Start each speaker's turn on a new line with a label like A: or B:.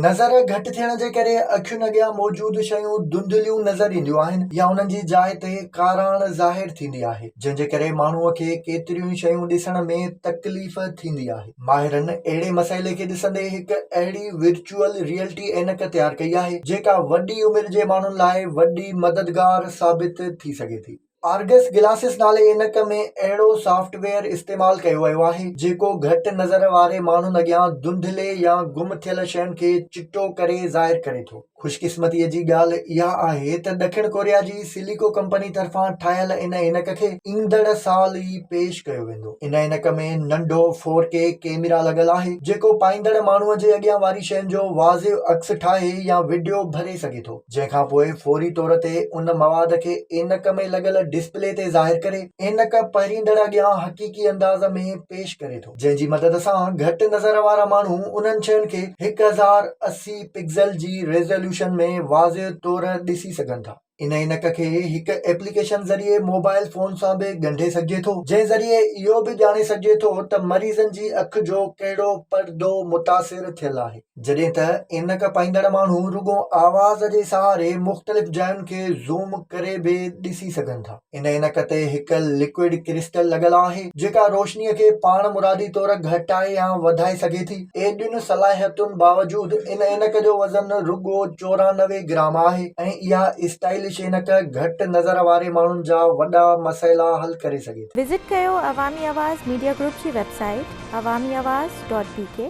A: نظر گهٽ ٿيڻ جي ڪري اکين اڳيان موجود شيون ڌنڌليون نظر اينديون آهن يا انهن جي جاء تي ڪاراڻ ظاهر ٿيندي آهي جنهن جي ڪري ماڻهوء کي ڪيتريون ئي شيون ڏسڻ ۾ تڪليف ٿيندي آهي ماهرن اهڙي مسئلي کي ڏسندي هڪ اهڙي ورچوئل ريئلٽي عينڪ تيار ڪئي آهي جيڪا وڏي عمر جي ماڻهن لاء وڏي مددگار ثابت ٿي سگهي ٿي آرگس گلاسس نالي عينڪ ۾ اهڙو سافٽ ويئر استعمال ڪيو ويو آهي جيڪو گهٽ نظر واري ماڻهن اڳيان ڌنڌلي يا گم ٿيل شين کي چٽو ڪري ظاهر ڪري ٿو. خوشقسمتيء جي ڳالهه اها آهي ته ڏکڻ ڪوريا جي سيليڪو ڪمپني طرفان ٺاهيل ان عينڪ کي ايندڙ سال ئي پيش ڪيو ويندو. ان عينڪ ۾ ننڍو فور ڪي ڪيميرا لڳل آهي جيڪو پائيندڙ ماڻهوء جي اڳيان واري شين جو واضح عڪس ٺاهي يا وڊيو ڀري سگهي ٿو. جنهن کان پوء فوري طور تي ان مواد کي عينڪ ۾ لڳل ڊسپلي تي ظاهر ڪري عينڪ پهريندڙ اڳيان حقيقي انداز ۾ پيش ڪري ٿو جنهن جي مدد سان گهٽ نظر وارا ماڻهو انهن شين کي هڪ هزار اسي پڪسل جي ريزوليوشن ۾ واضح طور ڏسي سگهن ٿا ان عينڪ کي هڪ ايپليڪيشن ذريعي موبائل فون سان به ڳنڍي سگهجي ٿو جنهن ذريعي اهو به ڄاڻي سگهجي ٿو ته مريضن جي اک جو ڪهڙو پردو متاثر ٿيل آهي جڏهن ته عينڪ پائيندڙ ماڻهو رڳو آواز جي سهاري مختلف جاين کي زوم ڪري به ڏسي سگهن ٿا. ان عينڪ تي هڪ لڪوئڊ ڪرسٽل لڳل آهي، جيڪا روشنيء کي پاڻمرادي طور گهٽائي يا وڌائي سگهي ٿي. ايڏين صلاحيتن باوجود ان عينڪ جو وزن رڳو چورانوي گرام آهي ۽ اها اسٽائلش عينڪ گهٽ نظر واري ماڻهن جا وڏا مسئلا حل ڪري سگهي ٿي. وزٽ ڪيو عوامي
B: آواز ميڊيا گروپ جي website Awami Awaz dot بي ڪي.